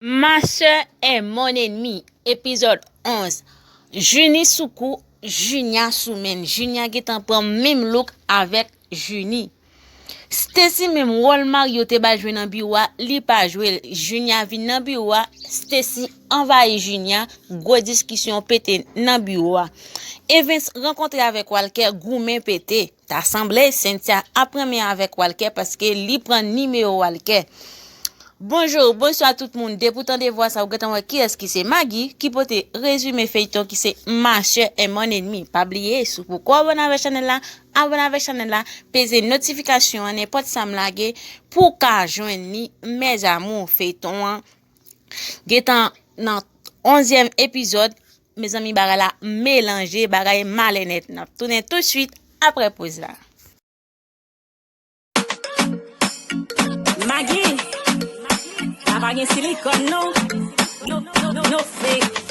Ma soeur est mon ennemi epizòd 11 Junie sou kou Junia sou menn Junia gentan pran menm look avèk Junie Stacy menm wòl Mario te bal jwe nan biwo a li pa jwel Junia vin nan biwo a Stacy anvayi Junia gwo diskisyon pete nan biwo a Evens rankontre avèk Walker goumen pete. Ta sanble Cynthia ap renmen avèk Walker paske li pran nimewo Walker. Bonjour, bonswa tout moun, depi ou tande vwa sa ou gentan wè kiyès ki se Magi ki pote rezime feyton ki se Ma soeur et mon ennemi pa bliye si w poko abone avèk chanèl la abone avèk chanèl la peze notifikasyon an nenpòt sam lage pou w ka jwenn li mes amours feyton an Gentan nan onzyèm epizòd Mezanmi bagay la melanje bagay male nèt Nap tounen tout suit aprè poz la Magi La pa gen silikòn non No fake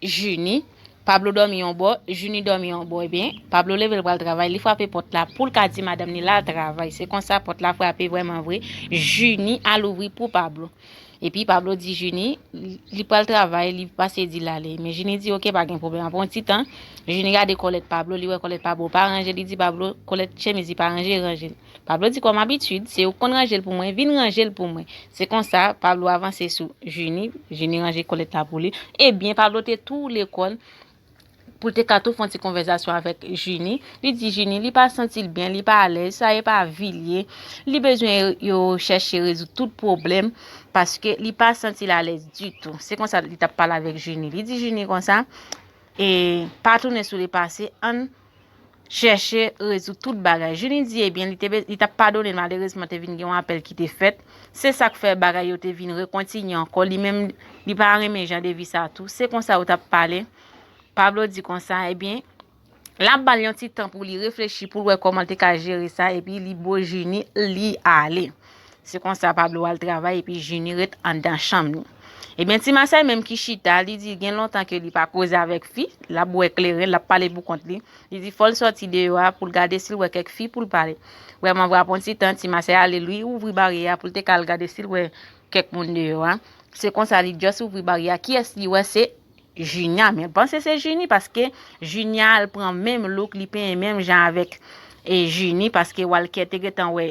Jini, Pablo dòmi yon bò, Jini dòmi yon bò ebyen, Pablo leve l pral travay, li frape pòt la poul ka di madanm li lal travay, se konsa pòt la frape vrèman vre, Jini al ouvri pou Pablo. Epi Pablo di Jini, li pral travay, li pase di lale. Men Jini di ok pa gen pwoblèm, apre yon ti tan, Jini gade kòlèt Pablo, li wè kòlèt Pablo pa ranje, li di Pablo, kòlèt chemiz li pa ranje, ranje l. Pablo di kòm abitid, se ou k konn ranje l pou mwen, vin ranje l pou mwen. Se konsa, Pablo avanse sou Jini, Jini ranje kolèt la pou li. Ebyen, Pablo te tou lekòl, pou l te ka tou fè yon ti konvèzasyon avèk Jini. Li di Jini, li pa santi l byen, li pa alèz, sa e pa vi l ye. Li bezwen yo chèche rezoud tout pwoblèm, paske li pa santi l alèz ditou. Se konsa li t ap pale avèk Jini. Li di Jini konsa, e pa tounen sou le pase, ann. chèche rezoud tout bagay. Junie di ebyen li te li tap padone malerezman te vin gen yon apèl ki te fèt. Se sak fè bagay yo te vin rekontinye ankò li menm li pa renmen jan de vi sa tou. Se konsa yo tap pale. Pablo di konsa ebyen lap bal yon ti tan pou li reflechi pou l wè kòman l te ka jere sa epi li bo Junie li ale. Se konsa Pablo al travay epi Junie ret anndan chanm li. Ebyen ti Masay menm ki chita, li di gen lontan ke li pa koze avèk fi, l ap bwè kleren, l ap pale pou kont li. Li di fò l sòti deyò a pou l gade si l wè kèk fi pou l pale. Vrèman vre apre yon ti tan, ti Masay ale li ouvri baryè a pou l te ka al gade si l wè kèk moun deyò a. Se konsa li just ouvri baryè a, kiyès li wè se Junia men l panse se Junie paske Junia al pran menm look, li penyen menm jan avèk Junie paske Walker te gentan wè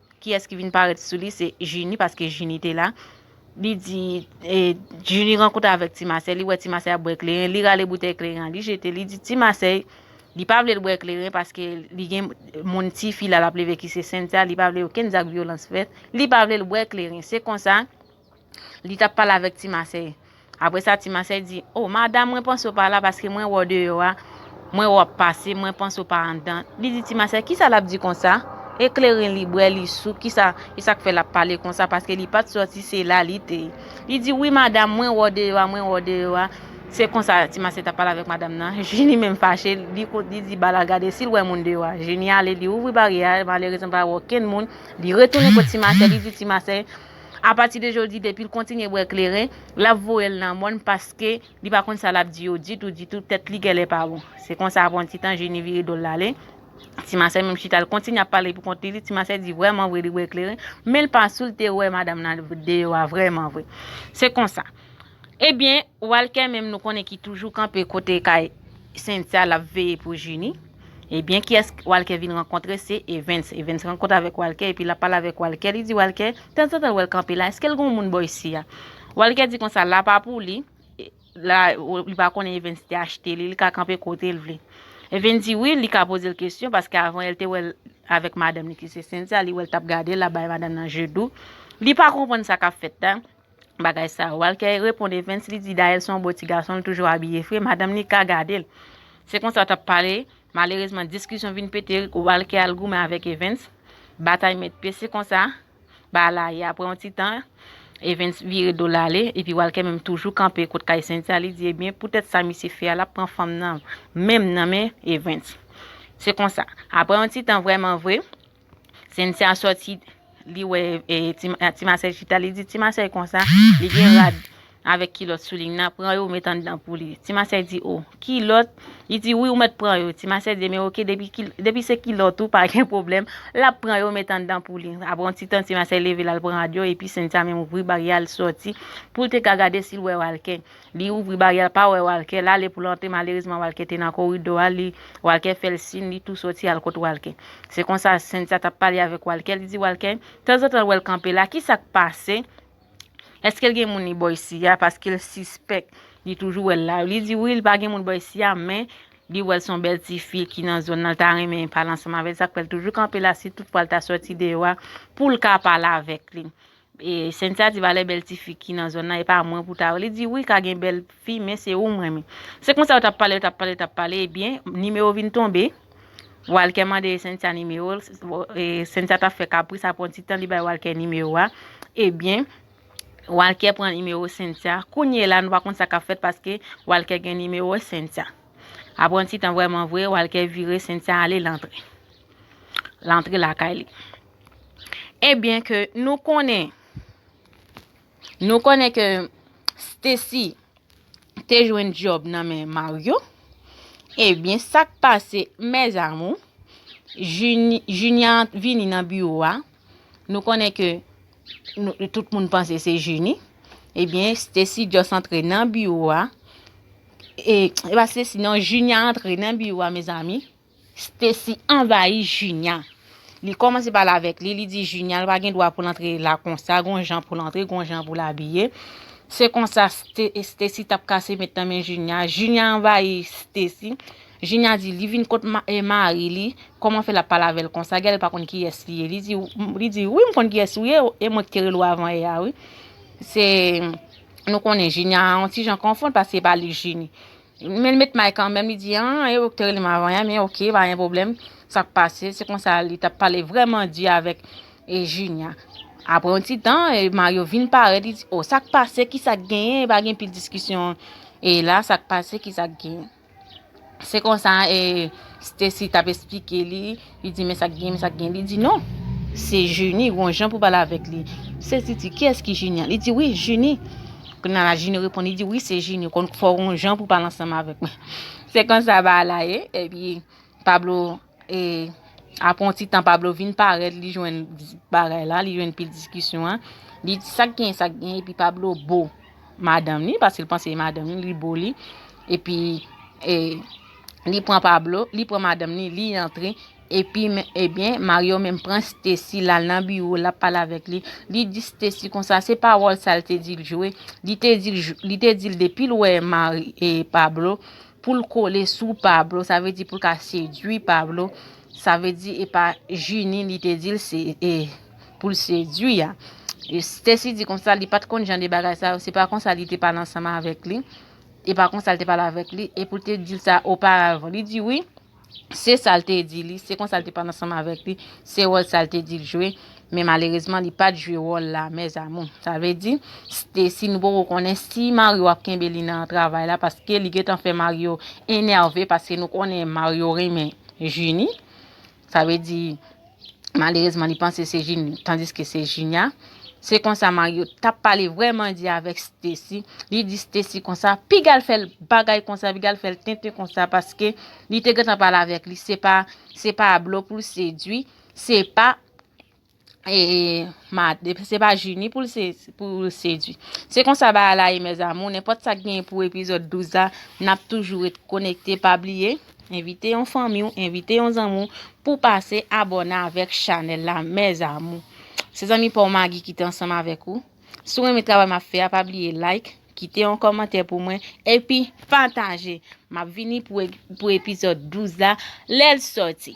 Kiyès ki vin parèt sou li se Jini paske Jini te la li di Jini rankontre avèk ti masè li wè ti masè ap bwè kleren li rale boutèy kleren an li jete li di ti masè li pa vle l bwè kleren paske li gen moun ti fi la lap leve ki se Sentia li pa vle okenn zak vyolans fèt li pa vle l bwè kleren se konsa Li t ap pale avèk Ti Masèy. Apre sa, Ti Masèy di, O, madam, mwen panse w pa la paske mwen wè w deyò a, mwen wè w ap pase, mwen panse w pa anndan. Li di Ti Masèy, Kisa l ap di konsa? Ekleren li bwè, li sou, ki sa k fè l ap pale konsa paske li pa t sòti, se la li te ye. Li di, Wi, madam, mwen wè w deyò a, mwen wè w deyò a. Se konsa Ti Masèy t ap pale avèk madam nan. Jini menm fache, li di Bala gade si l wè moun deyò a. Jini ale, li ouvri baryè a, malerezman li pa wè okenn moun. Li retounen kot Ti Masèy, li di Ti Masèy. A pati de jodi depil kontinye bwè kleren lap voyel nan mòn paske li pa konn sa lap di yo ditou ditou tèt li gèlè pa bon. Se konsa apre yon ti tan Jeni vire dol lale. Ti masè menm chita l kontinye ap pale pou kont li di ti masè di vrèman vre li bwè kleren menl pa soul te wè madam nan deyò a vrèman vre. Se konsa. Ebyen walkè menm nou konnen ki toujou kanpe kote kay sentia lap veye pou jini ebyen kiyès walkè vin rankontre se evens evens rankontre avèk walkè epi lap pale avèk walkè li di walkè tanzantan l wèl kanpe la eskel gon moun bò isi a walkè di konsa la pa pou li la li pa konnen evens te achte li li ka kanpe kotel vle evens di wi li ka pozel kesyon paske avan el te wèl avèk madanm li ki se sentia li wèl tap gadel lap bay madanm nan je dou li pa konprann sa kap fèt la. bagay sa yo. Walkè reponn Evens li di Daël son bo ti gason li toujou abiye fre madanm li ka gadel. Se konsa yo tap pale, malerezman diskisyon vin pete Walkè al goumen avèk Evens, batay met pye se konsa ba la ye aprè yon ti tan Evens vire dol ale epi Walkè menm toujou kanpe kot kay Cynthia li di ebyen poutèt sa misye fè a lap pran fanm nan menm nan men Evens. Se konsa aprè yon ti tan vrèman vre Cynthia sòti li wè ti masèy chita li di ti masèy konsa li gen rad avèk kilòt sou li nan pran yo met anndan pou li ti masèy di o kilòt li di wi ou mèt pran yo ti masèy di men ok depi se kilòt ou pa gen pwoblèm lap pran yo met anndan pou li apre yon ti tan ti masèy leve lal pran rad yo epi Cynthia menm ouvri baryè al sòti pou l te ka gade si l wè Walker Li ouvri baryè l pa wè Walker l ale pou l antre malerezman Walker te nan koridò a li Walker fè l sin li tou soti al kot Walker se konsa Cynthia t ap pale avèk Walker li di Walker tanzantan l wè l kanpe la kisa k pase èske l gen moun li bò isi a paske l sispèk li toujou wè l la li di wi li pa gen moun bò isi a men li wè l se yon bèl ti fi ki nan zòn nan l ta renmen pale ansanm avè l sa k fè l toujou kanpe la si tout fwa l ta soti deyò a pou l ka pale avèk li Cynthia di valè bèl ti fi ki nan zòn nan e pa mwen pou ta wè. Li di wi ka gen bèl fi men se ou m renmen. Se konsa yo t ap pale, yo t ap pale, yo t ap pale ebyen nimewo vin tonbe. Walkè mande Cynthia nimewo l, Cynthia t ap fè kapris aprè yon ti tan li bay Walkè nimewo a. Ebyen Walkè pran nimewo Cynthia. Kounye la nou pa konn sa k ap fèt paske Walkè gen nimewo Cynthia. Aprè yon ti tan vrèman vre Walkè vire Cynthia ale l antre. L antre lakay li. E byen ke nou konnen, nou konnen ke Stacy te jwenn djòb nan men Mario, e byen sa k pase mèzamou, Junia vini nan biwo a, nou konnen ke tout moun panse se Junie, e byen Stacy just antre nan biwo a, e pa Stacy non, Junia antre nan biwo a mezanmi, Stacy anvayi Junia. Li kòmanse pale avèk li, li di Junia l pa gen dwa pou l antre la konsa, gon jan pou l antre, gon jan pou l abiye. Se konsa Stacy t ap kase met nan men Junia. Junia anvayi Stacy. Junia di li vin kot mari li, kòman fè l ap pale avè l konsa, gade l pa konn kiyès li ye. Li di wi m konn kiyès ou ye, e mwen ki te rele w avan yè a wi. Se nou konnen Junia an yon ti jan konfonn paske se pa li Junie. Men l met may kanmenm, li di, an, e ou k te rele m avan, enben oke, pa gen pwoblèm, sa k pase? Se konsa li t ap pale vrèman di avèk Jinya. Apre yon ti tan, Maryo vin parèt, li di, o, sa k pase, ki sa k genyen, pa gen pil diskisyon e la, sa k pase, ki sa k genyen? Se konsa e Stesi t ap esplike li, Li di men sak gen, men sak gen. Li di non, se Junie, gon jan pou pale avèk li. Se Titi, kiyès ki Junie an? Li di wi, Junie. Kounya la Junie reponn, li di wi se Junie, konn fò gon jan pou pale ansanm avèk mwen. Se konsa ba la ye, epi Pablo e apre yon ti tan Pablo vin parèt, li jwenn bagay la, li jwenn pil diskisyon an. Li di sak gen, sak gen, epi Pablo bo madanm li, paske l panse e madanm li, li bo li. Epi e li pran Pablo, li pran madanm li, li antre, epi, ebyen, Mario menm pran Stesi, l al nan biwo, l ap pale avèk li, li di Stesi konsa, se pawòl sa l te di l jwe, li te di l, li te di l depi l wè Mari, e, Pablo, pou l kole sou Pablo, sa vle di pou l ka sedui Pablo, sa vle di e pa Jini li te di l se, e, pou l sedui a. Stesi di konsa, li pa t konn jan de bagay sa yo, se pa konsa li te pale ansanm avèk li. E pa konsa l te pale avèk li, e pou l te di l sa oparavan. Li di wi, se sa l te di li, se konsa l te pale ansanm avèk li, se wòl sa l te di l jwe, men malerezman li pa t jwe wòl la mèzamou. Sa vle di, Stesy nou poko konnen si Mario ap kenbe li nan travay la paske li gentan fè Mario enève paske nou konnen Mario renmen Junie. Sa vle di malerezman li panse se Junior tandiske se Junia. Se konsa Mario tap pale vrèman di avèk Stacy. Li di Stacy konsa, pigal fèl bagay konsa, pigal fèl tenten konsa paske li te gentan pale avèk li se pa se pa Ablo poul sedwi, se pa E mad e se pa jini pou l sedwi. Se konsa ba ala e mèz amou, nen pot sa gen pou epizod 12 la, nap toujou et konekte pa bliye, envite yon fanmi ou, envite yon zanmou pou pase abòne avèk chanèl la mèz amou. Se zanmi paw Magi ki te ansanm avèk ou. Sou renmen travay map fè a pa bliye like, kite yon kòmantè pou mwen epi pataje. Map vini pou epizod 12 la lèl soti.